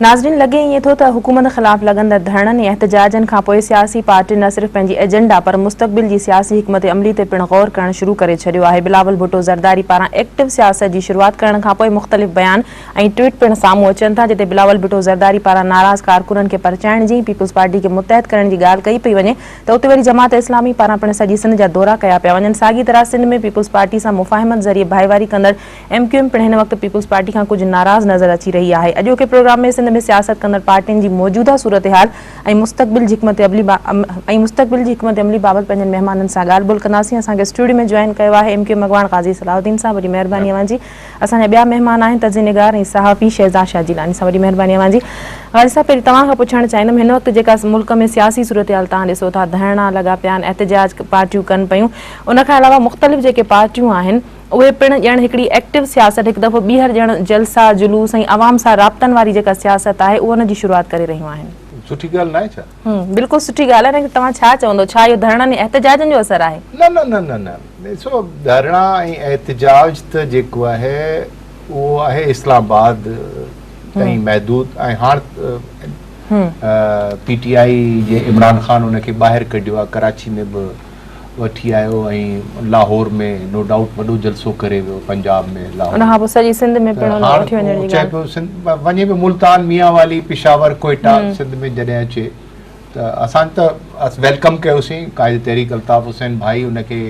ناظرين لڳي ائين ٿو ته حڪومت خلاف لڳندڙ ڌرڻن ۽ احتجاجن کانپوء سياسي پارٽين نه صرف پنهنجي ايجنڊا پر مستقبل جي سياسي حڪمت عملي تي پڻ غور ڪرڻ شروع ڪري ڇڏيو آهي بلاول ڀٽو زرداري پاران ايڪٽو سياست جي شروعات ڪرڻ کانپوء مختلف بيان ۽ ٽوئيٽ پڻ سامهون اچن ٿا جتي بلاول ڀٽو زرداري پاران ناراض ڪارڪنن کي پرچائڻ جي ۽ پيپلز پارٽي کي متحد ڪرڻ جي ڳالهه ڪئي پئي وڃي ته اتي وري جماعت اسلامي پاران پڻ سڄي سنڌ جا دورا ڪيا پيا وڃن ساڳي طرح سنڌ ۾ پيپلز پارٽي سان مفاهمت ذريعي ڀائيواري ڪندڙ ايم ڪيو ايم پڻ هن وقت پيپلز پارٽي کان ڪجهه ناراض نظر اچي رهي آهي. اڄوڪي پروگرام ۾ سنڌ ۾ سياست ڪندڙ پارٽين جي موجوده صورتحال ۽ مستقبل جي حڪمت عملي بابت پنهنجن مهمانن سان ڳالهه ٻولهه ڪنداسين. اسان کي اسٽوڊيو ۾ جوائن ڪيو آهي ايم ڪيو ايم اڳواڻ قاضي صلاح الدين صاحب وڏي مهرباني اوهان جي. اسان جا ٻيا مهمان آهن تجزئي نگار ۽ صحافي شهزاد شاهه جيلاني صاحب وڏي مهرباني اوهان جي. قاضي صاحب پهرين توهان کان پڇڻ چاهيندم هن وقت جيڪا ملڪ ۾ سياسي صورتحال توهان ڏسو ٿا ڌرڻا لڳا پيا آهن احتجاج پارٽيون ڪن پيون ان کان علاوه مختلف جيڪي پارٽيون آهن اهي پڻ ڄڻ هڪڙي ايڪٽو سياست هڪ دفعو ٻيهر ڄڻ جلسا جلوس ۽ عوام سان رابطن واري جيڪا سياست آهي اهو ان جي شروعات ڪري رهيون آهن. سٺي ڳالهه ناهي ڇا؟ هم بلڪل سٺي ڳالهه آهي ليڪن توهان ڇا چوندو ڇا اهو ڌرڻن ۽ احتجاجن جو اثر آهي؟ نه نه نه نه نه ڏسو ڌرڻا ۽ احتجاج ته جيڪو آهي اهو آهي اسلام آباد تائين محدود ۽ هاڻ پي ٽي آئي جي عمران خان ان کي ٻاهر ڪڍيو آهي ڪراچي ۾ به وٺي آيو ۽ لاهور ۾ نو ڊائوٽ وڏو جلسو ڪري ويو پنجاب ۾ لاهور ان کان پوء سڄي سنڌ ۾ پڻ ان وٺي وڃڻ جي ڳالهه چئي پيو وڃي پيو ملتان ميان والي پشاور ڪوئيٽا سنڌ ۾ جڏهن اچي ته اسان ته ويلڪم ڪيوسين قائد تحريڪ الطاف حسين ڀائي ان کي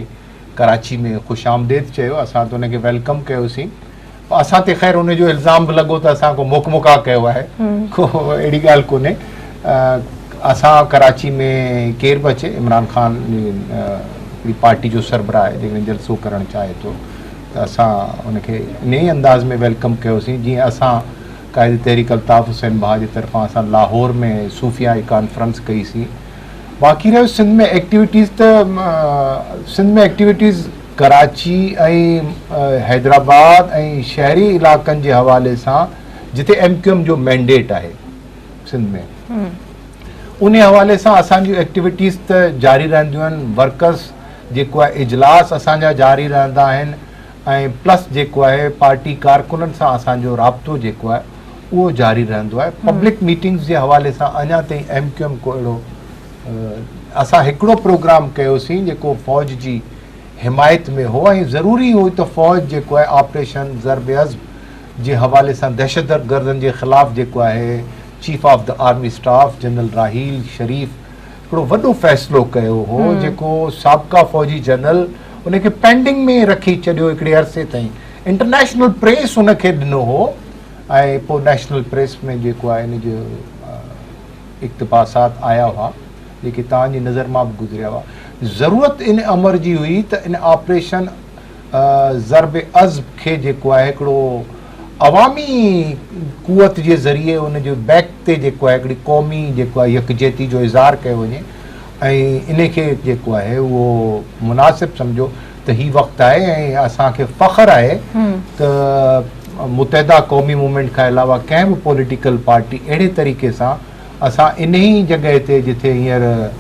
ڪراچي ۾ خوش آمديد چيو اسان ته ان کي ويلڪم ڪيوسين اسان تي خير ان جو الزام به لڳو ته اسان ڪو موک مڪا ڪيو آهي ڪو اهڙي ڳالهه ڪونهي اسان ڪراچي ۾ ڪير به اچي عمران خان جي پارٽي جو سربراهه آهي جيڪڏهن جلسو ڪرڻ چاهي ٿو ته اسان ان کي ان ئي انداز ۾ ويلڪم ڪيوسين جيئن اسان قائد تحريڪ الطاف حسين بها جي طرفان اسان لاهور ۾ صوفيا جي ڪانفرنس ڪئيسين باقي رهيو سنڌ ۾ ايڪٽيويٽيز ته سنڌ ۾ ايڪٽيويٽيز ڪراچي ۽ حيدرآباد ۽ شهري علائقن جي حوالي سان جتي ايم ڪيو ايم جو مينڊيٽ آهي سنڌ ۾ انهي حوالي سان اسان جون ايڪٽيويٽيز ته جاري رهنديون آهن ورڪرس جيڪو آهي اجلاس اسان جا جاري رهندا آهن ۽ پلس جيڪو آهي پارٽي ڪارڪنن سان اسان جو رابطو جيڪو آهي اهو جاري رهندو آهي پبلڪ ميٽنگس جي حوالي سان اڃا تائين ايم ڪيو ايم ڪو اهڙو اسان هڪڙو پروگرام ڪيوسين جيڪو فوج جي حمايت ۾ هو ۽ ضروري هو ته فوج جيڪو آهي آپريشن ضرب عضب جي حوالي سان دهشت گردن جي خلاف جيڪو آهي chief of the army staff general Raheel Sharif هڪڙو وڏو فيصلو ڪيو هو جيڪو سابقا فوجي جنرل ان کي پينڊنگ ۾ رکي ڇڏيو هڪڙي عرصي تائين انٽرنيشنل پريس ان کي ڏنو هو ۽ پوء نيشنل پريس ۾ جيڪو آهي ان جو اقتباسات آيا هئا، جيڪي توهان جي نظر مان به گذريا هئا. ضرورت ان امر جي هئي ته ان آپريشن ضرب عضب کي جيڪو آهي هڪڙو عوامي قوت جي ذريعي ان جي بيڪ تي جيڪو آهي هڪڙي قومي جيڪو آهي يڪجهتي جو اظهار ڪيو وڃي ۽ ان کي جيڪو آهي اهو مناسب سمجهيو ته هي وقت آهي ۽ اسان کي فخر آهي ته متحده قومي موومينٽ کان علاوه ڪنهن به پوليٽيڪل پارٽي اهڙي طريقي سان اسان ان ئي جڳهه تي جتي هينئر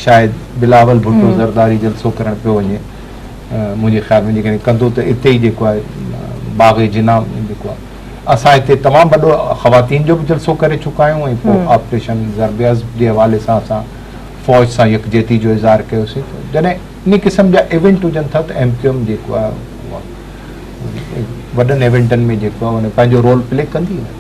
شايد بلاول ڀٽو زرداري جلسو ڪرڻ پيو وڃي منهنجي خيال ۾ جيڪڏهن ڪندو ته اتي ئي جيڪو آهي باغ جنا جيڪو آهي اسان هتي تمام وڏو خواتين جو به جلسو ڪري چڪا آهيون ۽ پوء آپريشن ضرب عضب جي حوالي سان اسان فوج سان يڪجهتي جو اظهار ڪيوسين جڏهن انهي قسم جا ايونٽ هجن ٿا ته ايم ڪيو ايم جيڪو آهي اها وڏن ايونٽن ۾ جيڪو آهي ان پنهنجو رول پلي ڪندي نه.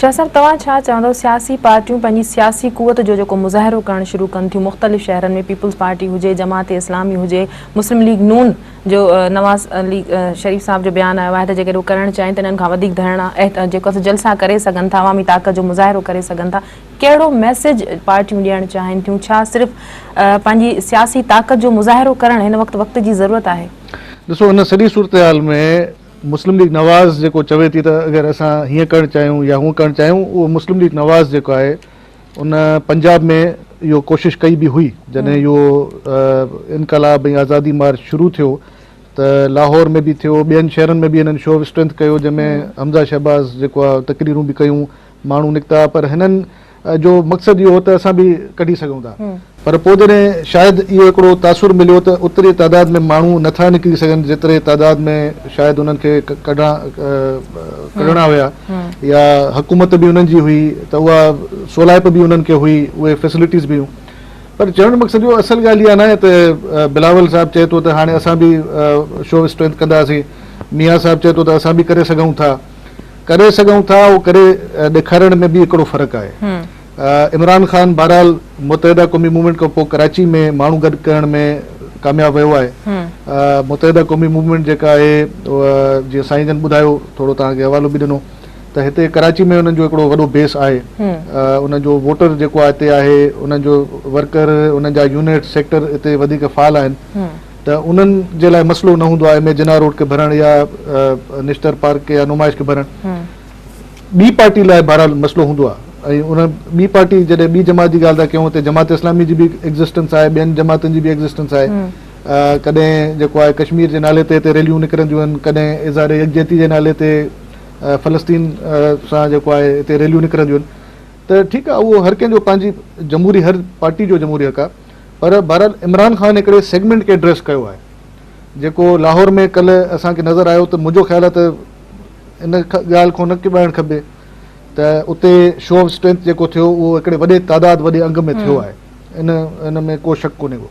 شاهه صاحب توهان ڇا چوندو سياسي پارٽيون پنهنجي سياسي قوت جو جيڪو مظاهرو ڪرڻ شروع ڪن ٿيون مختلف شهرن ۾ پيپلز پارٽي هجي جماعت اسلامي هجي مسلم ليگ نون جو نواز ليگ شريف صاحب جو بيان آيو آهي ته جيڪڏهن هو ڪرڻ چاهين ته انهن کان وڌيڪ ڌرڻا جيڪو جلسا ڪري سگهن ٿا عوامي طاقت جو مظاهرو ڪري سگهن ٿا ڪهڙو ميسيج پارٽيون ڏيڻ چاهين ٿيون؟ ڇا صرف پنهنجي سياسي طاقت جو مظاهرو ڪرڻ هن وقت وقت جي ضرورت آهي؟ ڏسو ان سڄي صورتحال ۾ مسلم ليگ نواز جيڪو چوي ٿي ته اگر اسان هيئن ڪرڻ چاهيون يا هونء ڪرڻ چاهيون اهو مسلم ليگ نواز جيڪو آهي ان پنجاب ۾ اهو ڪوشش ڪئي به هئي جڏهن اهو انقلاب ۽ آزادي مارچ شروع ٿيو ته لاهور ۾ به ٿيو ٻين شهرن ۾ به هنن شو آف اسٽرينٿ ڪيو جنهن ۾ حمزه شهباز جيڪو آهي تقريرون به ڪيون ماڻهو نڪتا پر هنن جو مقصد اهو هو ته اسان به ڪڍي سگهون ٿا پر پوء جڏهن شايد اهو هڪڙو تاثر مليو ته اوتري تعداد ۾ ماڻهو نه ٿا نڪري سگهن جيتري تعداد ۾ شايد انهن کي ڪڍڻا هيا يا حڪومت به انهن جي هئي ته اها سولائپ به انهن کي هئي اهي فيسلٽيز به هيون پر چوڻ جو مقصد اهو اصل ڳالهه اها ناهي ته بلاول صاحب چئي ٿو ته هاڻي اسان به شو اسٽرينٿ ڪنداسين ميان صاحب چئي ٿو ته اسان به ڪري سگهون ٿا ڪري سگهون ٿا اهو ڪري ڏيکارڻ ۾ به هڪڙو فرق آهي عمران خان بهرحال متحده قومي موومينٽ کان پوء ڪراچي ۾ ماڻهو گڏ ڪرڻ ۾ ڪامياب ويو آهي متحده قومي موومينٽ جيڪا آهي جيئن سائين جن ٻڌايو ٿورو توهان کي حوالو به ڏنو ته هتي ڪراچي ۾ انهن جو هڪڙو وڏو بيس آهي انهن جو ووٽر جيڪو هتي آهي انهن جو ورڪر انهن جا يونٽ سيڪٽر هتي وڌيڪ فعال آهن ته انهن جي لاء مسئلو نه هوندو آهي ايم اي جناح روڊ کي ڀرڻ يا نشتر پارڪ يا نمائش کي ڀرڻ ٻي پارٽي لاء بهرحال مسئلو هوندو آهي ۽ ان ٻي پارٽي جڏهن ٻي جماعت جي ڳالهه ٿا ڪيون اتي جماعت اسلامي جي به ايگزسٽنس آهي ٻين جماعتن جي به ايگزسٽنس آهي ڪڏهن جيڪو آهي ڪشمير جي نالي تي هتي ريليون نڪرنديون آهن ڪڏهن اظهار يڪجهتي جي نالي تي فلسطين سان جيڪو آهي هتي ريليون نڪرنديون آهن ته ٺيڪ آهي اهو هر ڪنهن جو پنهنجي جمهوري هر پارٽي جو جمهوري حق آهي پر بهرحال عمران خان هڪڙي سيگمينٽ کي ايڊريس ڪيو آهي جيڪو لاهور ۾ ڪلهه اسان کي نظر آيو ته منهنجو خيال آهي ته ان ڳالهه کان نه ڪٻائڻ کپي ته اتي شو آف اسٽرينٿ جيڪو ٿيو اهو هڪڙي وڏي تعداد وڏي انگ ۾ ٿيو آهي ان ان ۾ ڪو شڪ ڪونهي ڪو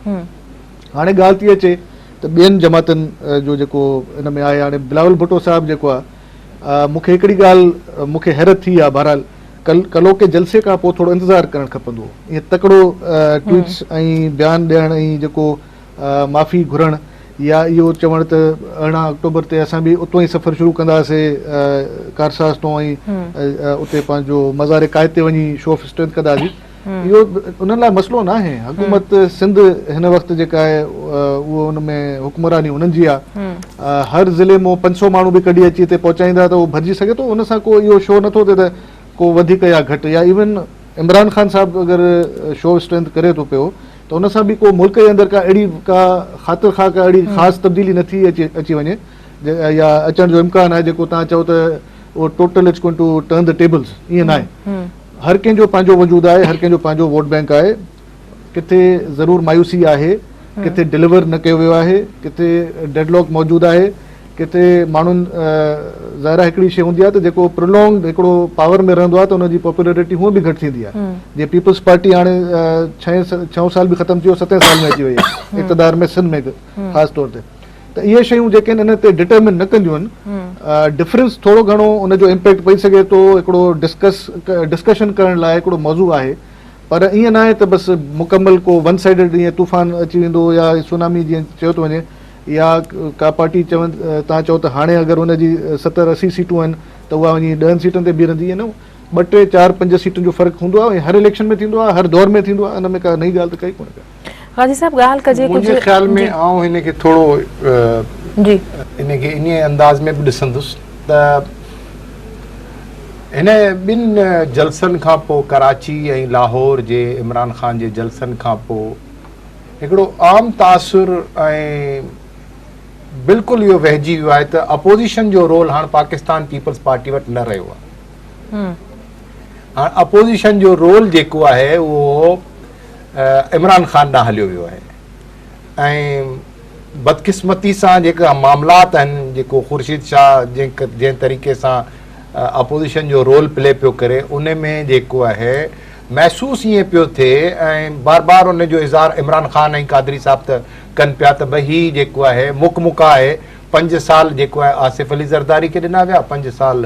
هاڻي ڳالهه ٿي اچي ته ٻين جماعتن جو جيڪو ان ۾ آهي هاڻي بلاول ڀٽو صاحب جيڪو آهي مون کي هڪڙي ڳالهه مون کي حيرت ٿي آهي بهرحال ڪلو ڪي جلسي کان پوء ٿورو انتظار ڪرڻ کپندو هو ائين تڪڙو ٽوئيٽس ۽ بيان ڏيڻ ۽ جيڪو معافي گهرڻ يا اهو چوڻ ته ارڙهن آڪٽوبر تي اسان به اتو ئي سفر شروع ڪنداسي ڪارساز تون ۽ اتي پنهنجو مزار قائد تي وڃي شو آف اسٽرينٿ ڪنداسي اهو انهن لاء مسئلو ناهي، حڪومت سنڌ هن وقت جيڪا آهي اهو ان ۾ حڪمراني انهن جي آهي، هر ضلعي مون پنج سؤ ماڻهو به ڪڍي اچي هتي پهچائيندا ته اهو ڀرجي سگهي ٿو، ان سان ڪو اهو شو نٿو ٿئي ته ڪو وڌيڪ يا گهٽ يا ايون عمران خان صاحب اگر شو اسٽرينٿ ڪري ٿو پيو ته ان سان به ڪو ملڪ جي اندر ڪا اهڙي ڪا خاطر خواه ڪا اهڙي خاص تبديلي نه ٿي اچي اچي وڃي يا اچڻ جو امڪان آهي جيڪو تان چئو ته اهو total it's going to turn the tables ائين ناهي. هر ڪنهن جو پنهنجو وجود آهي، هر ڪنهن جو پنهنجو ووٽ بئنڪ آهي، ڪٿي ضرور مايوسي آهي، ڪٿي ڊليور نه ڪيو ويو آهي، ڪٿي ڊيڊ لاڪ موجود آهي، ڪٿي ماڻهن ظاهر آهي هڪڙي شيء هوندي آهي ته جيڪو پرولونگڊ هڪڙو پاور ۾ رهندو آهي ته ان جي پاپولرٽي هونء به گهٽ ٿيندي آهي، جيئن پيپلز پارٽي هاڻي ڇهين ڇهون سال به ختم ٿي ويو ستين سال ۾ اچي وئي آهي اقتدار ۾ سنڌ ۾ خاص طور تي. ته اهي شيون جيڪي ان تي ڊٽرمن نه ڪنديون آهن ڊفرنس ٿورو گهڻو ان جو امپيڪٽ پئي سگهي ٿو هڪڙو ڊسڪس ڊسڪشن ڪرڻ لاء هڪڙو موضوع آهي پر ائين ناهي ته بس مڪمل ڪو ون سائيڊڊ ائين طوفان اچي ويندو يا سونامي جيئن چيو ٿو وڃي يا ڪا پارٽي چون تان چئو ته هاڻي اگر ان جي ستر اسي سيٽون آهن ته اها وڃي ڏهن سيٽن تي بيهرندي ائين ٻه ٽي چار پنج سيٽن جو فرق هوندو آهي ۽ هر اليڪشن ۾ ٿيندو آهي هر دور ۾ ٿيندو آهي ان ۾ ڪا نئين ڳالهه ته ڪئي ڪونه غازي صاحب ڳالهه ڪجي ڪجي منهنجي خيال ۾ آئون هن کي ٿورو جي ان کي انهي انداز ۾ به ڏسندس ته هن ٻن جلسن کان پوء ڪراچي ۽ لاهور جي عمران خان جي جلسن کان پوء هڪڙو عام تاثر ۽ بلڪل اهو وهجي ويو آهي ته اپوزيشن جو رول هاڻ پاڪستان پيپلز پارٽي وٽ نه رهيو آهي هاڻ اپوزيشن جو رول جيڪو آهي اهو عمران خان ڏانهن هليو ويو آهي ۽ بدقسمتي سان جيڪا معاملات آهن جيڪو خورشيد شاهه جنهن طريقي سان اپوزيشن جو رول پلي پيو ڪري ان ۾ جيڪو آهي محسوس ائين پيو ٿئي ۽ بار بار ان جو اظهار عمران خان ۽ قادري صاحب ته ڪن پيا ته بھي هي جيڪو آهي مک مکا آهي پنج سال جيڪو آهي آصف علي زرداري کي ڏنا ويا پنج سال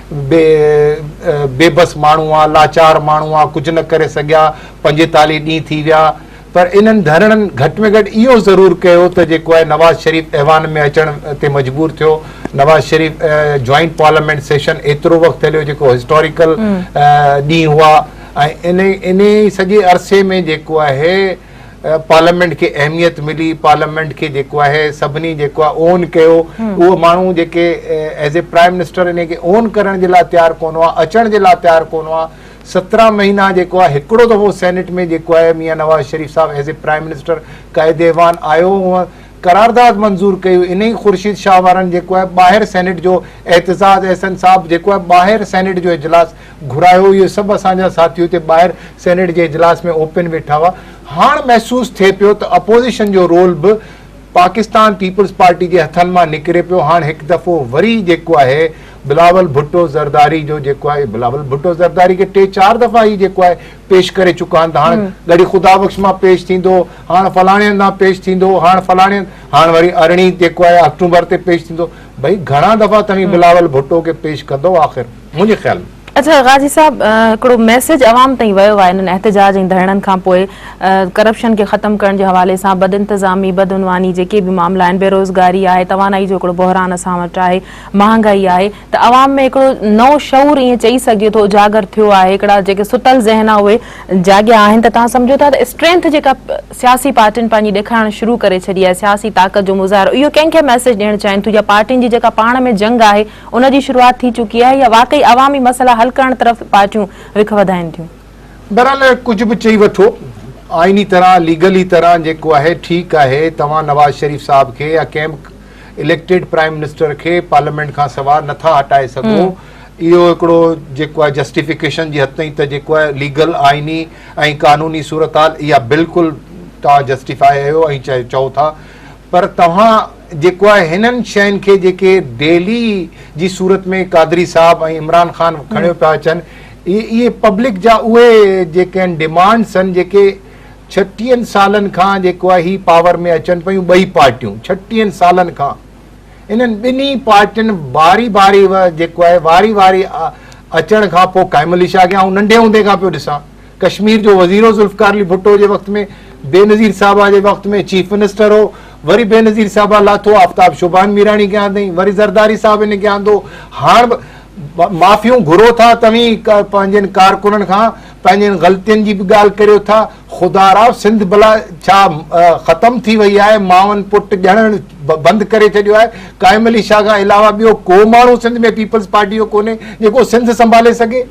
بي بي بس ماڻهو آ، لاچار ماڻهو آ، ڪجهه نه ڪري سگهيا، پنجيتاليهه ڏينهن ٿي ويا پر انهن ڌرڻن گهٽ ۾ گهٽ اهو ضرور ڪيو ته جيڪو آهي نواز شريف ايوان ۾ اچڻ تي مجبور ٿيو، Nawaz Sharif joint parliament session ايترو وقت هليو جيڪو هسٽاريڪل ڏينهن هئا ۽ انهي انهي سڄي عرصي ۾ جيڪو آهي پارليامينٽ کي اهميت ملي پارليامينٽ کي جيڪو آهي سڀني جيڪو آهي اون ڪيو اهو ماڻهو جيڪي ايز اي پرائم منسٽر ان کي اون ڪرڻ جي لاء تيار ڪون هئا اچڻ جي لاء تيار ڪون هئا سترهن مهينا جيڪو آهي هڪڙو دفعو سينيٽ ۾ جيڪو آهي ميان Nawaz Sharif sahib as a prime minister قائد ايوان آيو هو قرارداد منظور ڪيو ان ئي خورشيد شاهه وارن جيڪو آهي ٻاهر سينيٽ جو احتزاز احسن صاحب جيڪو آهي ٻاهر سينيٽ جو اجلاس گهرايو اهي سڀ اسان جا ساٿي اتي ٻاهر سينيٽ جي اجلاس ۾ اوپن ويٺا هئا هاڻ محسوس ٿئي پيو ته اپوزيشن جو رول به پاڪستان پيپلز پارٽي جي هٿن مان نڪري پيو هاڻ هڪ دفعو وري جيڪو آهي بلاول ڀٽو زرداري جو جيڪو آهي بلاول ڀٽو زرداري کي ٽي چار دفعا هي جيڪو آهي پيش ڪري چڪا آهن ته هاڻ ڳڙهي خدا بخش مان پيش ٿيندو هاڻ فلاڻي هنڌان پيش ٿيندو هاڻ فلاڻي هاڻ وري ارڙهين جيڪو آهي آڪٽوبر تي پيش ٿيندو ڀئي گهڻا دفعا توهين بلاول ڀٽو کي پيش ڪندو آخر منهنجي خيال ۾. اچا غازي صاحب هڪڙو ميسيج عوام تائين ويو آهي انهن احتجاج ۽ ڌرڻن کان پوء ڪرپشن کي ختم ڪرڻ جي حوالي سان بد انتظامي بد عنواني جيڪي به معاملا آهن بيروزگاري آهي توانائي جو هڪڙو بحران اسان وٽ آهي مهانگائي آهي ته عوام ۾ هڪڙو نئون شعور ائين چئي سگهجي ٿو اجاگر ٿيو آهي هڪڙا جيڪي ستل ذهن آهن اهي جاڳيا آهن ته توهان سمجهو ٿا ته اسٽرينٿ جيڪا سياسي پارٽين پنهنجي ڏيکارڻ شروع ڪري ڇڏي آهي سياسي طاقت جو مظاهرو اهو ڪنهن کي ميسيج ڏيڻ چاهين ٿيون يا پارٽين جي جيڪا پاڻ ۾ جنگ آهي ان جي شروعات ٿي چڪي آهي يا واقعي عوامي مسئلا حل ڪرڻ طرف پارٽيون رخ وڌائين ٿيون؟ بهرحال ڪجهه به چئي وٺو آئيني طرح ليگلي طرح جيڪو آهي ٺيڪ آهي توهان نواز شريف صاحب کي يا ڪنهن به اليڪٽيڊ پرائيم منسٽر کي پارليامينٽ کان سوا نٿا هٽائي سگهو اهو هڪڙو جيڪو آهي جسٽيفڪيشن جي حد تائين ته جيڪو آهي ليگل آئيني ۽ قانوني صورتحال اها بلڪل توهان جسٽيفائي آهيو ۽ چئو ٿا پر توهان جيڪو آهي هنن شين کي جيڪي ڊيلي جي صورت ۾ قادري صاحب ۽ عمران خان کڻيو پيا اچن اهي پبلڪ جا اهي جيڪي آهن ڊيمانڊس آهن جيڪي ڇٽيهن سالن کان جيڪو آهي هي پاور ۾ اچن پيون ٻئي پارٽيون ڇٽيهن سالن کان انهن ٻنهي پارٽين باري باري جيڪو آهي واري واري اچڻ کان پوء قائم علي شاهه کي آئون ننڍي هوندي کان پيو ڏسان ڪشمير جو وزير هو ذوالفقار علي ڀٽو جي وقت ۾ بينظير صاحبه جي وقت ۾ چيف منسٽر هو وري بينظير صاحبه لاٿو آفتاب شوبان ميراڻي کي آندائين وري زرداري صاحب هن کي آندو هاڻ معافيون گهرو ٿا توهين پنهنجن ڪارڪنن کان پنهنجن غلطين جي به ڳالهه ڪريو ٿا خدا را سنڌ بلا ڇا ختم ٿي وئي آهي ماون پٽ ڄڻڻ بند ڪري ڇڏيو آهي قائم علي شاهه کان علاوه ٻيو ڪو ماڻهو سنڌ ۾ پيپلز پارٽي جو ڪونهي جيڪو سنڌ سنڀالي سگهي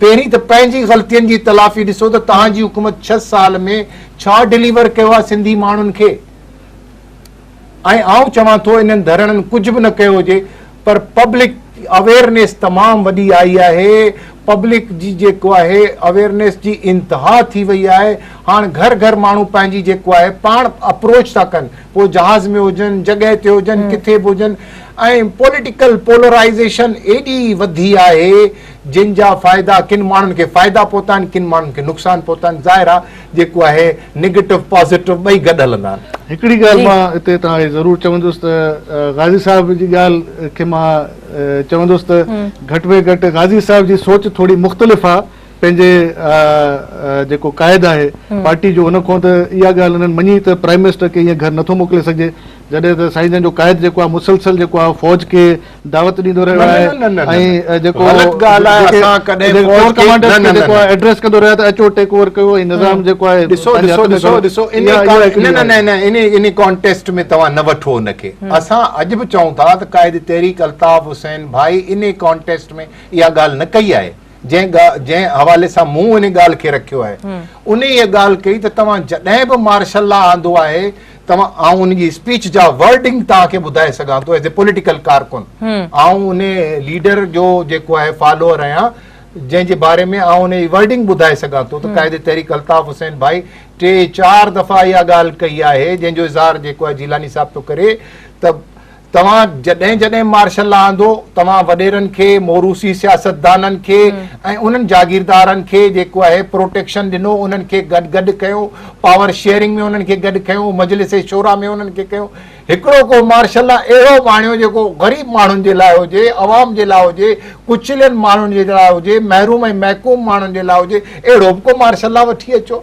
پهرين ته پنهنجي غلطين جي تلافي ڏسو ته توهان جي حڪومت ڇهه سال ۾ ڇا ڊليور ڪيو آهي سنڌي ماڻهن کي ۽ آئون چوان ٿو انهن ڌرڻن ڪجهه به نه ڪيو هجي پر پبلڪ اويرنيس تمام وڏي آئي آهي پبلڪ جي جيڪو آهي اويرنيس جي انتها ٿي وئي آهي هاڻ گهر گهر ماڻهو پنهنجي جيڪو آهي پاڻ اپروچ ٿا ڪن پوء جهاز ۾ هجن جڳهه تي هجن ڪٿي به هجن ۽ پوليٽيڪل پولرائزيشن ايڏي وڌي آهي جن جا فائدا ڪن ماڻهن کي فائدا پهتا آهن ڪن ماڻهن کي نقصان پهتا آهن ظاهر آهي جيڪو آهي نيگيٽو پازيٽو ٻئي گڏ هلندا آهن. هڪڙي ڳالهه مان هتي توهان کي ضرور چوندس ته غازي صاحب جي ڳالهه کي مان چوندس ته گهٽ ۾ گهٽ غازي صاحب جي سوچ ٿوري مختلف آهي پنهنجي جيڪو قائد آهي پارٽي جو ان کان ته اها ڳالهه هنن مڃي ته پرائيم منسٽر کي ايئن گهر نٿو موڪلي سگهجي جڏهن ته سائين جن جو قائد جيڪو آهي مسلسل جيڪو آهي فوج کي دعوت ڏيندو رهيو آهي ۽ جيڪو ايڊريس ڪندو رهيو آهي ته اچو ٽيڪ اوور ڪيو ۽ نظام جيڪو آهي ڏسو ڏسو ڏسو ڏسو ان ان ڪانٽيسٽ ۾ توهان نه وٺو ان کي اسان اڄ به چئون ٿا ته قائد تحريڪ الطاف حسين ڀائي ان ڪانٽيسٽ ۾ اها ڳالهه نه ڪئي آهي جنهن جنهن حوالي سان مون ان ڳالهه کي رکيو آهي ان ڳالهه ڪئي ته توهان جڏهن به مارشل لا آندو آهي توهان آئون ان جي اسپيچ جا ورڊنگ توهان کي ٻڌائي سگهان ٿو ايز اي پوليٽيڪل ڪارڪن آئون ان ليڊر جو جيڪو آهي فالوور آهيان جنهن جي باري ۾ آئون ان جي ورڊنگ ٻڌائي سگهان ٿو ته قائد تحريڪ الطاف حسين ڀائي ٽي چار دفعا اها ڳالهه ڪئي آهي جنهن جو اظهار جيڪو آهي جيلاني صاحب ٿو ڪري ته توهان جڏهن جڏهن مارشل لا آندو توهان وڏيرن کي موروثي سياستدانن کي ۽ انهن جاگيردارن کي جيڪو آهي پروٽيڪشن ڏنو انهن کي گڏ گڏ ڪيو پاور شيئرنگ ۾ انهن کي گڏ کنيو مجلس شورا ۾ انهن کي کنيو هڪڙو ڪو مارشل لا اهڙو آڻيو جيڪو غريب ماڻهن جي لاء هجي عوام جي لاء هجي ڪچلين ماڻهن جي لاء هجي محروم ۽ محڪوم ماڻهن جي لاء هجي اهڙو به ڪو مارشل لا وٺي اچو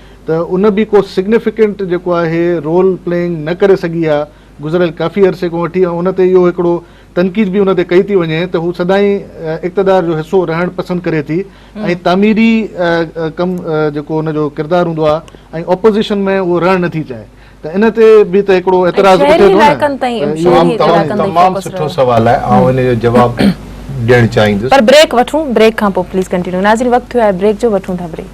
ته ان به ڪو سگنيفڪنٽ جيڪو آهي رول پلينگ نه ڪري سگهي آهي گذريل ڪافي عرصي کان وٺي ۽ ان تي اهو هڪڙو تنقيد به ان تي ڪئي ٿي وڃي ته هو سدائين اقتدار جو حصو رهڻ پسند ڪري ٿي ۽ تعميري ڪم جيڪو ان جو ڪردار هوندو آهي ۽ اپوزيشن ۾ اهو رهڻ نه ٿي چاهي ته ان تي به ته هڪڙو اعتراض اٿي ٿو نه شهري علائقن تائين تمام سٺو سوال آهي آئون ان جو جواب ڏيڻ چاهيندس پر بريڪ وٺون بريڪ کان پوء پليز ڪنٽينيو ناظرين وقت ٿيو آهي بريڪ جو وٺون ٿا بريڪ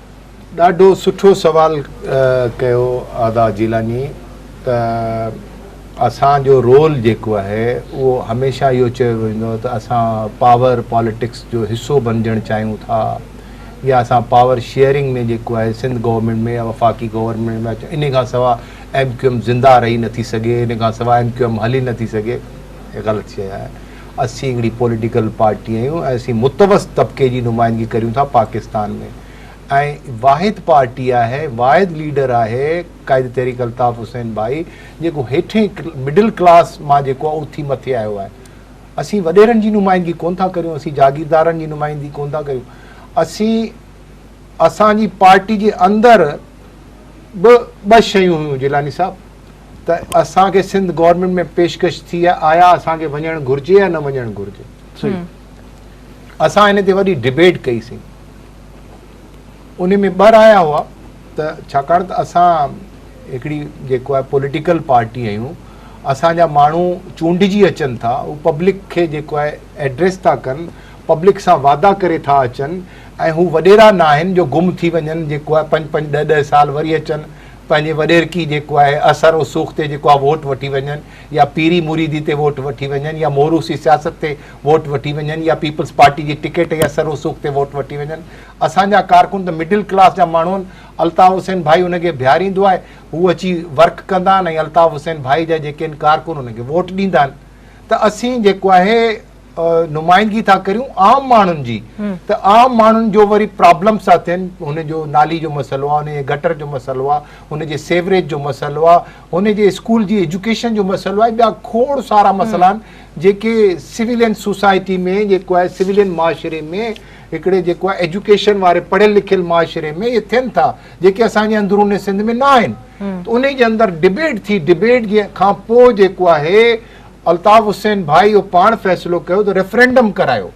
ڏاڍو سٺو سوال ڪيو ادا جيلاني ته اسان جو رول جيڪو آهي اهو هميشه اهو چيو ويندو ته اسان پاور پاليٽڪس جو حصو بنجڻ چاهيون ٿا يا اسان پاور شيئرنگ ۾ جيڪو آهي سنڌ گورنمنٽ ۾ يا وفاقي گورنمنٽ ۾ ان کان سواء ايم ڪيو ايم زنده رهي نٿي سگهي ان کان سواء ايم ڪيو ايم هلي نٿي سگهي غلط شيء آهي اسين هڪڙي پوليٽيڪل پارٽي آهيون ۽ اسين متوسط طبقي جي نمائندگي ڪريون ٿا پاڪستان ۾ ۽ واحد پارٽي آهي واحد ليڊر آهي قائد تحريڪ الطاف حسين ڀائي جيڪو هيٺين مڊل ڪلاس مان جيڪو آهي اٿي مٿي آيو آهي اسين وڏيرن جي نمائندگي ڪون ٿا ڪريون اسين جاگيردارن جي نمائندگي ڪون ٿا ڪريون اسين اسان جي پارٽي جي اندر به ٻه شيون هيون جيلاني صاحب ته اسان کي سنڌ گورنمينٽ ۾ پيشڪش ٿي آهي آيا اسان کي وڃڻ گهرجي يا نه وڃڻ گهرجي اسان هن تي وڏي ڊبيٽ ڪئي سي ان ۾ ٻه رايا هئا ته ڇاڪاڻ ته اسان هڪڙي جيڪو آهي پوليٽيڪل پارٽي آهيون اسانجا ماڻهو چونڊجي اچن ٿا هو پبلڪ کي جيڪو آهي ايڊريس ٿا ڪن پبلڪ سان وعدا ڪري ٿا اچن ۽ هو وڏيرا ناهن جو گم ٿي وڃن جيڪو آهي پنج پنج ڏهه ڏهه سال وري اچن پنهنجي وڏيرڪي جيڪو آهي اثر رسوخ تي جيڪو آهي ووٽ وٺي وڃن يا پيري مريدي تي ووٽ وٺي وڃن يا موروثي سياست تي ووٽ وٺي وڃن يا پيپلز پارٽي جي ٽڪيٽ جي اثر رسوخ تي ووٽ وٺي وڃن اسان جا ڪارڪن ته مڊل ڪلاس جا ماڻهو آهن الطاف حسين ڀائي انهن کي بيهاريندو آهي هو اچي ورڪ ڪندا آهن ۽ الطاف حسين ڀائي جا جيڪي آهن ڪارڪن انهن کي ووٽ ڏيندا آهن ته اسين جيڪو آهي نمائندگي ٿا ڪريون عام ماڻهن جي ته عام ماڻهن جو وري پرابلمس ٿا ٿين هن جو نالي جو مسئلو آهي هن جي گٽر جو مسئلو آهي هن جي سيوريج جو مسئلو آهي هن جي اسڪول جي ايجوڪيشن جو مسئلو آهي ٻيا کوڙ سارا مسئلا آهن جيڪي سولين سوسائٽي ۾ جيڪو آهي سولين معاشري ۾ هڪڙي جيڪو آهي ايجوڪيشن واري پڙهيل لکيل معاشري ۾ اهي ٿين ٿا جيڪي اسان جي اندروني سنڌ ۾ نه آهن ته ان جي اندر ڊبيٽ ٿي ڊبيٽ جي کان پوء جيڪو آهي الطاف حسين ڀائي اهو پاڻ فيصلو ڪيو ته ريفرنڊم ڪرايو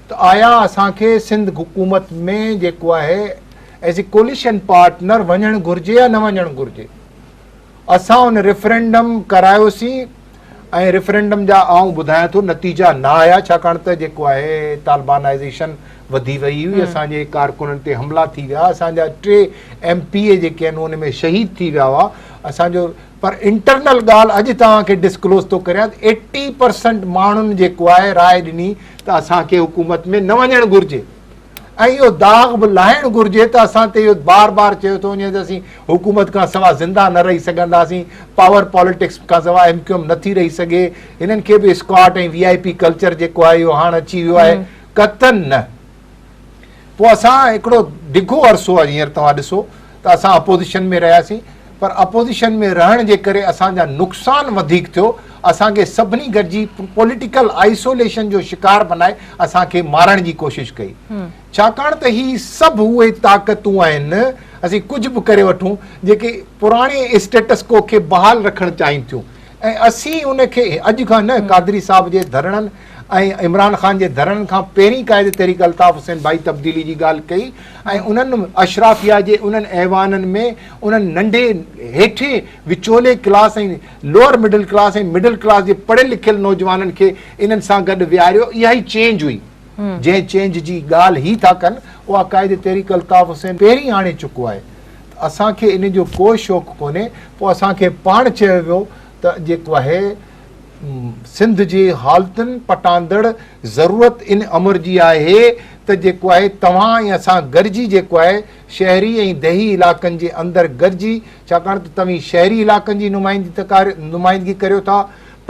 ته آيا اسان کي سنڌ حڪومت ۾ جيڪو آهي ايز اي ڪوليشن پارٽنر وڃڻ گهرجي يا نه وڃڻ گهرجي اسان ان ريفرنڊم ڪرايوسين ۽ ريفرنڊم جا آئون ٻڌايان ٿو نتيجا نه آيا ڇاڪاڻ ته جيڪو آهي طالبانائزيشن وڌي وئي هئي اسان جي ڪارڪنن تي حملا ٿي ويا اسان جا ٽي ايم پي اي جيڪي آهن ان ۾ شهيد ٿي ويا هئا اسان جو پر انٽرنل ڳالهه اڄ توهان کي ڊسڪلوز ٿو ڪريان ته ايٽي پرسنٽ ماڻهن جيڪو آهي راء ڏني ته اسان کي حڪومت ۾ نه وڃڻ گهرجي ۽ اهو داغ به لاهڻ گهرجي ته اسان تي اهو بار بار چيو ٿو وڃي ته اسين حڪومت کان سوا زنده نه رهي سگهنداسين پاور پاليٽڪس کان سوا ايم ڪيو ايم نٿي رهي سگهي هنن کي به escort ۽ V I P culture جيڪو آهي اهو هاڻ اچي ويو آهي قطن نه پوء اسان هڪڙو ڊگهو عرصو هينئر توهان ڏسو ته اسان اپوزيشن ۾ رهياسين پر اپوزيشن ۾ رهڻ جي ڪري اسان جا نقصان وڌيڪ ٿيو اسان کي سڀني گڏجي پوليٽيڪل آئسوليشن جو شڪار بنائي اسان کي مارڻ جي ڪوشش ڪئي ڇاڪاڻ ته هي سڀ اهي طاقتون آهن اسين ڪجهه به ڪري وٺون جيڪي پراڻي اسٽيٽس ڪو کي بحال رکڻ چاهين ٿيون ۽ اسين ان کي اڄ کان نه قادري صاحب جي ڌرڻن ۽ عمران خان جي ڌرڻن کان پهرين قائد تحريڪ الطاف حسين بائي تبديلي جي ڳالهه ڪئي ۽ انهن اشرافيا جي انهن ايوانن ۾ انهن ننڍي هيٺين وچولي class ۽ lower middle class ۽ middle class جي پڙهيل لکيل نوجوانن کي انهن سان گڏ ويهاريو اها ئي چينج هئي جنهن چينج جي ڳالهه هي ٿا ڪن اها قائد تحريڪ الطاف حسين پهرين آڻي چڪو آهي اسان کي ان جو ڪو شوق ڪونهي پوء اسان کي پاڻ چيو ويو ته جيڪو آهي سنڌ جي حالتن پٽاندڙ ضرورت ان امر جي آهي ته جيڪو آهي توهان ۽ اسان گڏجي جيڪو آهي شهري ۽ ديهي علاقن جي اندر گڏجي ڇاڪاڻ ته توهين شهري علاقن جي نمائندگي ڪريو ٿا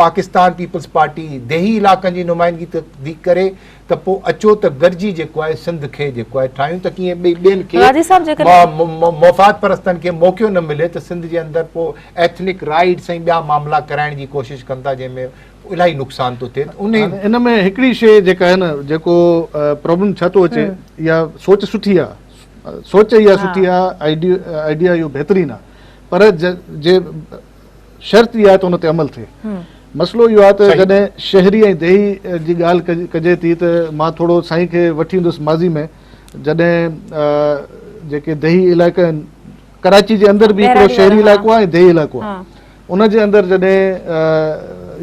پاڪستان پيپلز پارٽي ديهي علاقن جي نمائندگي ٿي ڪري ته پوء اچو ته گڏجي جيڪو آهي سنڌ کي جيڪو آهي ٺاهيون ته ڪيئن ٻئي ٻين کي راضي صاحب جيڪڏهن مفاد پرستن کي موقعو نه ملي ته سنڌ جي اندر پوء ايٿنڪ رائيڊس ۽ ٻيا معاملا ڪرائڻ جي ڪوشش ڪن ٿا جنهن ۾ الاهي نقصان ٿو ٿئي ان ان ۾ هڪڙي شيء جيڪا آهي نه جيڪو پرابلم ڇا ٿو اچي يا سوچ سٺي آهي سوچ اها سٺي آهي آئيڊيا اهو بهترين آهي پر جي شرط اها آهي ته ان تي عمل ٿئي. مسئلو اهو آهي ته جڏهن شهري ۽ ديهي جي ڳالهه ڪجي ٿي ته مان ٿورو سائين کي وٺي ويندس ماضي ۾ جڏهن جيڪي ديهي علائقا آهن ڪراچي جي اندر به هڪڙو شهري علائقو آهي ۽ ديهي علائقو آهي ان جي اندر جڏهن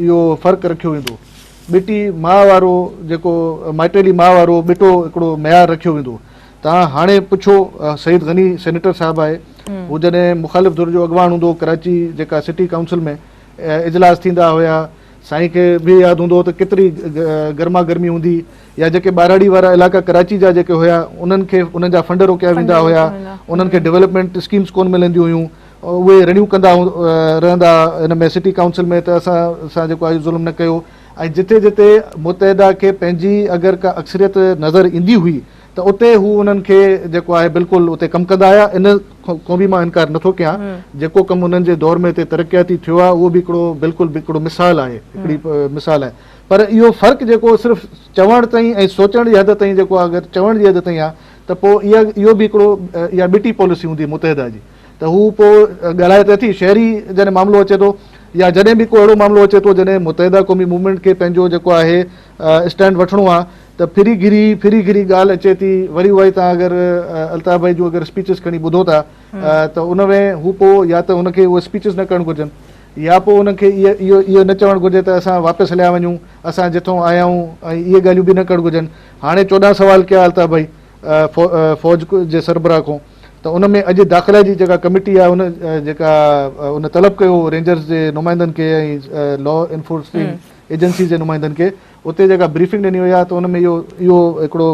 اهو فرق رکيو ويندو ٻٽي ماء وارو جيڪو مائٽيلي ماء وارو ٻٽو هڪڙو معيار رکيو ويندو توهان هاڻي پڇو سعيد غني سينيٽر صاحب آهي هو جڏهن مخالف ڌر جو اڳواڻ هوندو هو ڪراچي جيڪا سٽي ڪائونسل ۾ اجلاس ٿيندا هيا سائين کي به ياد هوندو ته ڪيتري گرما گرمي هوندي يا جيڪي ٻاراڙي وارا علائقا ڪراچي جا جيڪي هيا انهن کي انهن جا فنڊ روڪيا ويندا هيا انهن کي ڊيولپمينٽ اسڪيمز ڪون ملنديون هيون اهي رڙيون ڪندا رهندا هن ۾ سٽي ڪائونسل ۾ ته اسان سان جيڪو آهي ظلم نه ڪيو ۽ جتي جتي متحده کي پنهنجي اگر ڪا اڪثريت نظر ايندي هئي ته اتي هو انهن کي جيڪو آهي بلڪل اتي ڪم ڪندا آيا ان کان به مان انڪار نٿو ڪيان جيڪو ڪم انهن جي دور ۾ اتي ترقياتي ٿيو آهي اهو به هڪڙو بلڪل هڪڙو مثال آهي هڪڙي مثال آهي پر اهو فرق جيڪو صرف چوڻ تائين ۽ سوچڻ جي حد تائين جيڪو اگر چوڻ جي حد تائين آهي ته پوء اها اهو به هڪڙو اها ٻٽي پاليسي هوندي متحده جي ته هو پوء ڳالهائي ته اٿي شهري جڏهن معاملو اچي ٿو يا جڏهن به ڪو اهڙو معاملو اچي ٿو جڏهن متحده قومي موومينٽ کي پنهنجو جيڪو آهي اسٽينڊ وٺڻو آ ته ڦري گھري ڦري گھري ڳالھ اچي ٿي وري اهائي تان اگر الطاف ڀائي جون اگر اسپيچز کڻي ٻڌو ٿا ته ان ۾ هو پو يا ته هن کي اهي اسپيچز نه ڪرڻ گھرجن يا پو هن کي اهو اهو نه چوڻ گھرجي ته اسان واپس هليا وڃون اسان جتھون آيا آهيون ۽ اهي ڳالهيون به نه ڪرڻ گھرجن هاڻي چوڏهن سوال ڪيا الطاف ڀائي فوج جي سربراهه کون ته ان ۾ اڄ داخلا جي جيڪا ڪميٽي آ ان جيڪا ان طلب ڪيو هو رينجرز جي نمائندن کي ۽ لا انفورسنگ ايجنسيز جي نمائندن کي اتي جيڪا بريفنگ ڏني وئي آهي ته ان ۾ اهو اهو هڪڙو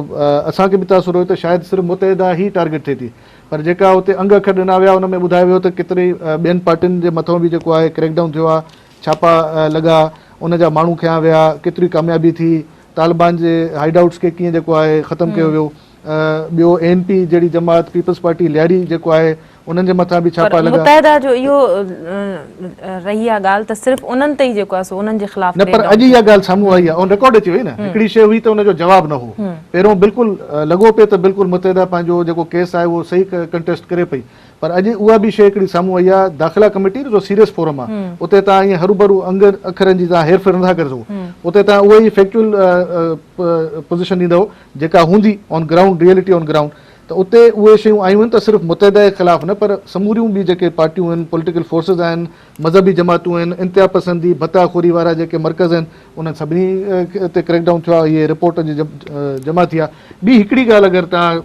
اسان کي به تاثر هيو ته شايد صرف متحده هي ٽارگيٽ ٿئي ٿي پر جيڪا اتي انگ اکر ڏنا ويا ان ۾ ٻڌايو ويو ته ڪيتري ٻين پارٽين جي مٿئون به جيڪو آهي ڪريڪ ڊائون ٿيو آهي ڇاپا لڳا ان جا ماڻهو کنيا ويا ڪيتري ڪاميابي ٿي طالبان جي هائيڊ آئوٽس کي ڪيئن جيڪو آهي ختم ڪيو ويو. ٻيو اي اين پي جهڙي جماعت پيپلز پارٽي لياري جيڪو آهي انهن جي مٿان به ڇاپا لڳا. پر متحده جو اهو رهي آهي ڳالهه ته صرف انهن تي ئي جيڪو آهي سو انهن جي خلاف ريڊ آئوٽ ٿيو. نه پر اڄ اها ڳالهه سامهون آئي آهي ان رڪارڊ اچي وئي نه هڪڙي شيء هئي ته ان جو جواب نه هو پهريون بلڪل لڳو پئي ته بلڪل متحده پنهنجو جيڪو ڪيس آهي اهو صحيح ڪنٽيسٽ ڪري پئي پر اڄ اها به شيء هڪڙي سامهون آئي آهي داخلا ڪميٽي جو سيريس فورم آهي اتي تان ائين هروڀرو انگن اکرن جي تان هير ڦير نه ٿا ڪري سگهو اتي تان اهو ئي فيڪچوئل پوزيشن ڏيندو. جيڪا هوندي on ground reality on ground ته اتي اهي شيون آيون آهن ته صرف متحده جي خلاف نه پر سموريون ٻيون جيڪي پارٽيون آهن پوليٽيڪل فورسز آهن مذهبي جماعتون آهن انتها پسندي ڀتا خوري وارا جيڪي مرڪز آهن انهن سڀني تي ڪريڪ ڊائون ٿيو آهي اهي رپورٽ جي جمع ٿي آهي ٻي هڪڙي ڳالهه اگر توهان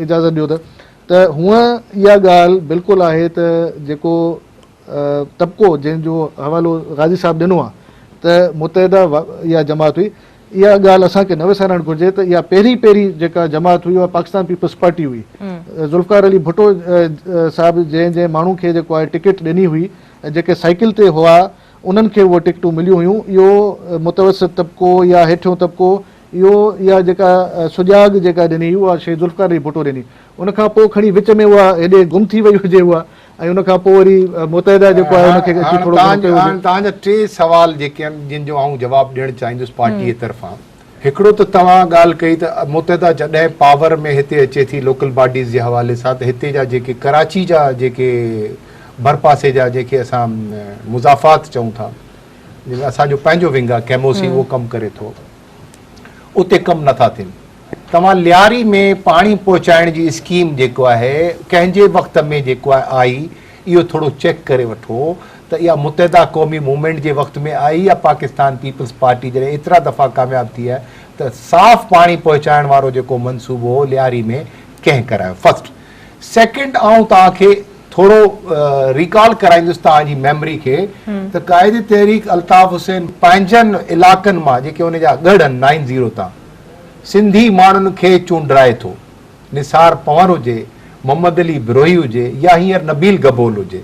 اجازت ڏيو ته ته هونء اها ڳالهه بلڪل آهي ته جيڪو طبقو جنهن جو حوالو غازي صاحب ڏنو آهي ته متحده اها جماعت هئي اها ڳالهه اسان کي نه وسارڻ گهرجي ته اها پهرين پهرين جيڪا جماعت هئي اها پاڪستان پيپلز پارٽي هئي. ذوالفقار علي ڀٽو صاحب جنهن جنهن ماڻهو کي جيڪو آهي ٽڪيٽ ڏني هئي ۽ جيڪي سائيڪل تي هئا انهن کي اهي ٽڪيٽون مليون هيون اهو متوسط طبقو يا هيٺيون طبقو اهو اها جيڪا سجاڳ جيڪا ڏني هئي اها شيء ذوالفقار علي ڀٽو ڏني ان کان پوء کڻي وچ ۾ اها هيڏي گم ٿي وئي هجي اها ۽ ان کان پوء وري متحده جيڪو آهي ان کي اچي ٿورو گهڻو ڪيو وڃي. هاڻ تهان جا ٽي سوال جيڪي آهن جن جو آئون جواب ڏيڻ چاهيندس پارٽيء جي طرفان. هڪڙو ته توهان ڳالهه ڪئي ته متحده جڏهن پاور ۾ هتي اچي ٿي لوڪل باڊيز جي حوالي سان ته هتي جا جيڪي ڪراچي جا جيڪي ڀرپاسي جا جنهن کي اسان مضافات چئون ٿا جنهن ۾ اسان جو پنهنجو ونگ آهي ڪيموسي اهو ڪم ڪري ٿو. اتي ڪم نه ٿا ٿين توهان لياري ۾ پاڻي پهچائڻ جي اسڪيم جيڪو آهي ڪنهن جي وقت ۾ جيڪو آهي آئي اهو ٿورو چيڪ ڪري وٺو ته اها متحده قومي موومينٽ جي وقت ۾ آئي يا پاڪستان پيپلز پارٽي جڏهن ايترا دفعا ڪامياب ٿي آهي ته صاف پاڻي پهچائڻ وارو جيڪو منصوبو هو لياري ۾ ڪنهن ڪرايو فسٽ سيڪنڊ آئون توهان کي ٿورو ريڪال ڪرائيندس توهان جي ميموري کي ته قائد تحريڪ الطاف حسين پنهنجن علاقن مان جيڪي ان جا ڳڙ آهن نائن زيرو تان سنڌي ماڻهن کي چونڊرائي ٿو نثار پنور هجي محمد علي بروهي هجي يا هينئر نبيل گبول هجي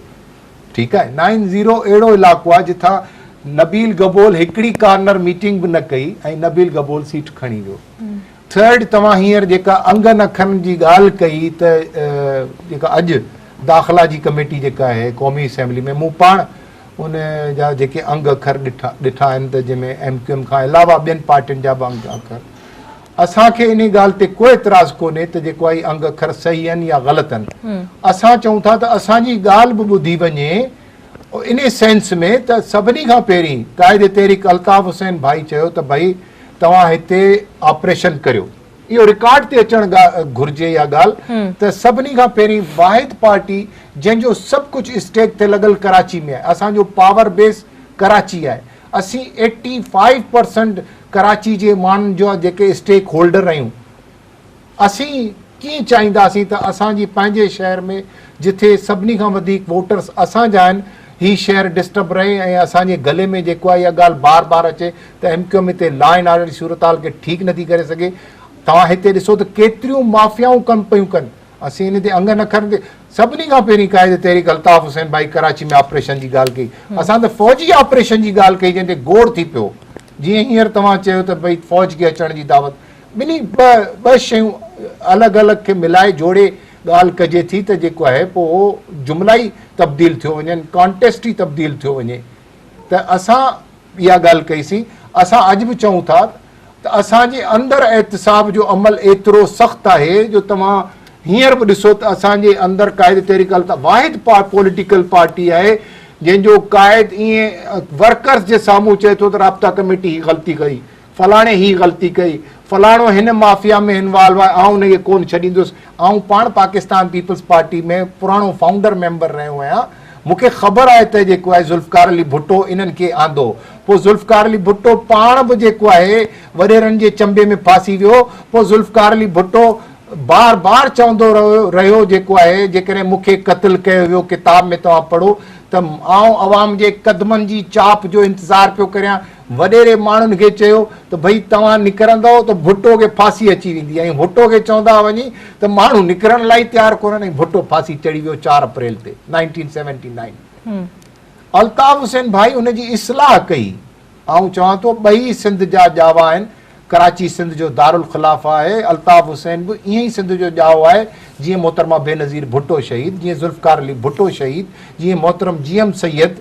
ٺيڪ آهي نائن زيرو اهڙو علاقو آهي جتان نبيل گبول هڪڙي ڪارنر ميٽنگ به نه ڪئي ۽ نبيل گبول سيٽ کڻي ويو ٿرڊ توهان هينئر جيڪا انگن اکن جي ڳالهه ڪئي ته جيڪا اڄ داخلا جي ڪميٽي جيڪا آهي قومي اسيمبلي ۾ مون پاڻ ان جا جيڪي انگ اکر ڏٺا ڏٺا آهن ته جنهن ۾ ايم ڪيو ايم کان علاوه ٻين پارٽين جا به انگ اکر اسان کي ان ڳالهه تي ڪو اعتراض ڪونهي ته جيڪو آهي انگ اکر صحيح آهن يا غلط آهن اسان چئون ٿا ته اسان جي ڳالهه به ٻڌي وڃي ان سينس ۾ ته سڀني کان پهرين قائد تحريڪ الطاف حسين ڀائي چيو ته ڀائي توهان هتي آپريشن ڪريو اهو رڪارڊ تي اچڻ گهرجي اها ڳالهه ته سڀني کان پهرين واحد پارٽي جنهن جو سڀ ڪجهه اسٽيڪ تي لڳل ڪراچي ۾ آهي اسان جو پاور بيس ڪراچي آهي اسين ايٽي فائيو پرسنٽ ڪراچي جي ماڻهن جو جيڪي اسٽيڪ هولڊر آهيون اسين ڪيئن چاهينداسين ته اسان جي پنهنجي شهر ۾ جٿي سڀني کان وڌيڪ ووٽرس اسان جا آهن هي شهر ڊسٽرب رهي ۽ اسان جي گلي ۾ جيڪو آهي اها ڳالهه بار بار اچي ته ايم ڪيو ايم هتي لا اينڊ آرڊر جي صورتحال کي ٺيڪ نٿي ڪري سگهي توهان هتي ڏسو ته ڪيتريون مافيائون ڪم پيون ڪن اسين ان تي انگ نه کڻندي سڀني کان پهرين قائد تحريڪ الطاف حسين ڀائي ڪراچي ۾ آپريشن جي ڳالهه ڪئي اسان ته فوجي آپريشن جي ڳالهه ڪئي جنهن تي گوڙ ٿي پيو جيئن هينئر توهان چيو ته ڀئي فوج کي اچڻ جي دعوت ٻنهي ٻه شيون الڳ الڳ کي ملائي جوڙي ڳالهه ڪجي ٿي ته جيڪو آهي پوء اهو جملا ئي تبديل ٿيو وڃن ڪانٽيسٽ ئي تبديل ٿيو وڃي ته اسان اها ڳالهه ڪئي سين اسان اڄ به چئون ٿا ته اسان جي اندر احتساب جو عمل ايترو سخت آهي جو توهان هينئر به ڏسو ته اسان جي اندر قائد تحريڪ الطاف واحد پوليٽيڪل پارٽي آهي جنهن جو قائد ائين ورڪرز جي سامهون چئي ٿو ته رابطا ڪميٽي هي غلطي ڪئي فلاڻي هي غلطي ڪئي، فلاڻو هن مافيا ۾ انوالو آهي، آئون انهيء کي ڪونه ڇڏيندس، آئون پاڻ پاڪستان پيپلز پارٽي ۾ پراڻو فائونڊر ميمبر رهيو آهيان، مون کي خبر آهي ته جيڪو آهي ذوالفقار علي ڀٽو انهن کي آندو، پوء ذوالفقار علي ڀٽو پاڻ به جيڪو آهي وڏيرن جي چنبي ۾ ڦاسي ويو، پوء ذوالفقار علي ڀٽو بار بار چوندو رهيو جيڪو آهي جيڪڏهن مون کي قتل ڪيو ويو، ڪتاب ۾ توهان پڙهو ته آئون عوام جي قدمن جي چاپ جو انتظار پيو ڪريان، وڏيري ماڻهن کي چيو ته ڀئي توهان نڪرندؤ ته ڀٽو کي ڦاسي اچي ويندي ۽ ڀٽو کي چوندا وڃي ته ماڻهو نڪرڻ لاء ئي تيار ڪونهن ۽ ڀٽو ڦاسي چڙهي ويو چار اپريل تي nineteen seventy nine ۾ Altaf Hussain Bhai ان جي اصلاح ڪئي آئون چوان ٿو ٻئي سنڌ جا ڄاوا آهن ڪراچي سنڌ جو دارالخلافه آهي، الطاف حسين به ائين ئي سنڌ جو ڄائو آهي، جيئن محترمه بينظير ڀٽو شهيد، جيئن ذوالفقار علي ڀٽو شهيد، جيئن محترم جي ايم سيد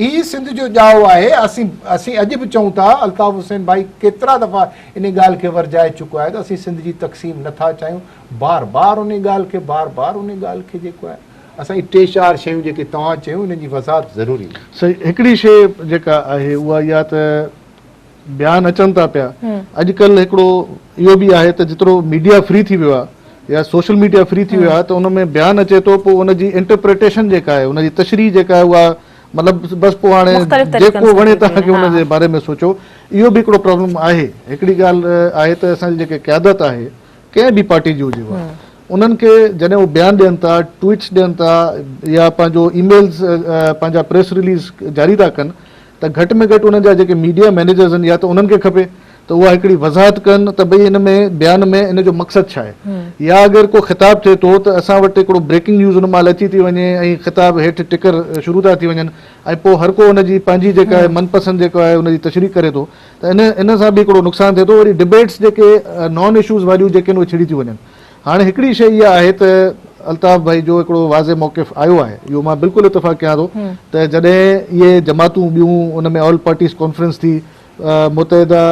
ئي سنڌ جو ڄائو آهي، اسين اسين اڄ به چئون ٿا، الطاف حسين ڀائي ڪيترا دفعا انهي ڳالهه کي ورجائي چڪو آهي ته اسين سنڌ جي تقسيم نه ٿا چاهيون، بار بار انهي ڳالهه کي بار بار انهي ڳالهه کي جيڪو آهي اسان جي ٽي چار شيون جيڪي توهان چيون انهن جي وضاحت ضروري آهي. سائين هڪڙي شيء جيڪا آهي اها اها ته. بيان اچن ٿا پيا اڄڪلهه هڪڙو اهو به آهي ته جيترو ميڊيا فري ٿي ويو آهي يا سوشل ميڊيا فري ٿي ويو آهي ته ان ۾ بيان اچي ٿو پوء ان جي انٽرپريٽيشن جيڪا آهي ان جي تشريح جيڪا آهي اها مطلب بس پوء هاڻي جيڪو وڻي تنهن کي ان جي باري ۾ سوچو اهو به هڪڙو پرابلم آهي هڪڙي ڳالهه آهي ته اسان جي جيڪي قيادت آهي ڪنهن به پارٽي جي هجي اها انهن کي جڏهن هو بيان ڏين ٿا ٽوئيٽس ڏين ٿا يا پنهنجو اي ميلز پنهنجا پريس رليز جاري ٿا ڪن ته گهٽ ۾ گهٽ انهن جا جيڪي ميڊيا مئنيجرز آهن يا ته انهن کي کپي ته اها هڪڙي وضاحت ڪن ته ڀئي ان ۾ بيان ۾ ان جو مقصد ڇا آهي يا اگر ڪو خطاب ٿئي ٿو ته اسان وٽ هڪڙو بريڪنگ نيوز ان مهل اچي ٿي وڃي ۽ خطاب هيٺ ٽڪر شروع ٿا ٿي وڃن ۽ پوء هر ڪو ان جي پنهنجي جيڪا آهي من پسند جيڪو آهي ان جي تشريح ڪري ٿو ته ان سان به هڪڙو نقصان ٿئي ٿو وري ڊبيٽس جيڪي نان اشوز واريون جيڪي آهن اهي ڇڙي ٿيون وڃن هاڻي هڪڙي شيء اها آهي ته الطاف ڀائي جو هڪڙو واضح موقف آيو آهي اهو مان بلڪل اتفاق ڪيان ٿو ته جڏهن اهي جماعتون ٻيون ان ۾ آل پارٽيز ڪانفرنس ٿي متحده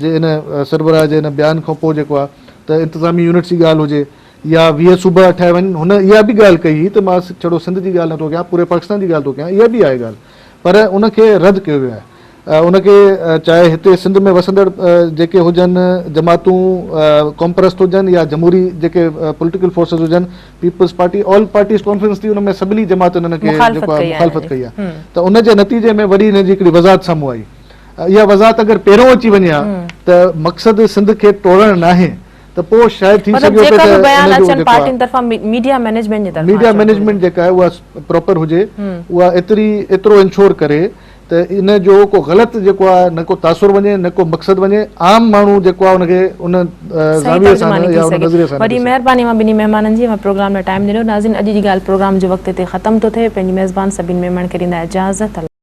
جي ان سربراهه جي ان بيان کان پوء جيڪو آهي ته انتظامي يونٽس جي ڳالهه هجي يا ويهه صوبا ٺاهيا وڃن هن اها به ڳالهه ڪئي هئي ته مان ڇڙو سنڌ جي ڳالهه نٿو ڪيان پوري پاڪستان جي ڳالهه ٿو ڪيان اها به آهي ڳالهه پر ان کي رد ڪيو ويو آهي. ان کي چاهي هتي سنڌ ۾ وسندڙ جيڪي هجن جماعتون قومپرست هجن يا جمهوري جيڪي پوليٽيڪل فورسز هجن Peoples Party all parties conference ٿي ان ۾ سڀني جماعتن ان کي جيڪو آهي مخالفت ڪئي آهي ته ان جي نتيجي ۾ وري ان جي هڪڙي وضاحت سامهون آئي اها وضاحت اگر پهريون اچي وڃي ها ته مقصد سنڌ کي ٽوڙڻ ناهي ته پوء شايد ٿي مطلب سگهيو پئي جيڪا ته به بيان ان جو اچن جيڪو پارٽين آهي طرفان ميڊيا مئنيجمينٽ جي طرفان ميڊيا اچڻ گهرجي. مئنيجمينٽ جيڪا آهي اها پراپر هجي اها ايتري ايترو انشور ڪري ته ان جو ڪو غلط جيڪو آهي نه ڪو تاثر وڃي نه ڪو مقصد وڃي عام ماڻهو جيڪو آهي ان کي ان صحيح زاويي سان ترجماني نه ٿي يا ان سگهي. نظريي سان نه وڏي ڏسي. مهرباني اوهان ٻنهي مهمانن جي اوهان پروگرام لاء ٽائيم ڏنو. ناظرين اڄ جي ڳالهه پروگرام جي وقت هتي ختم ٿو ٿئي پنهنجي ميزبان سڀني ميمڻ کي ڏيندا اجازت.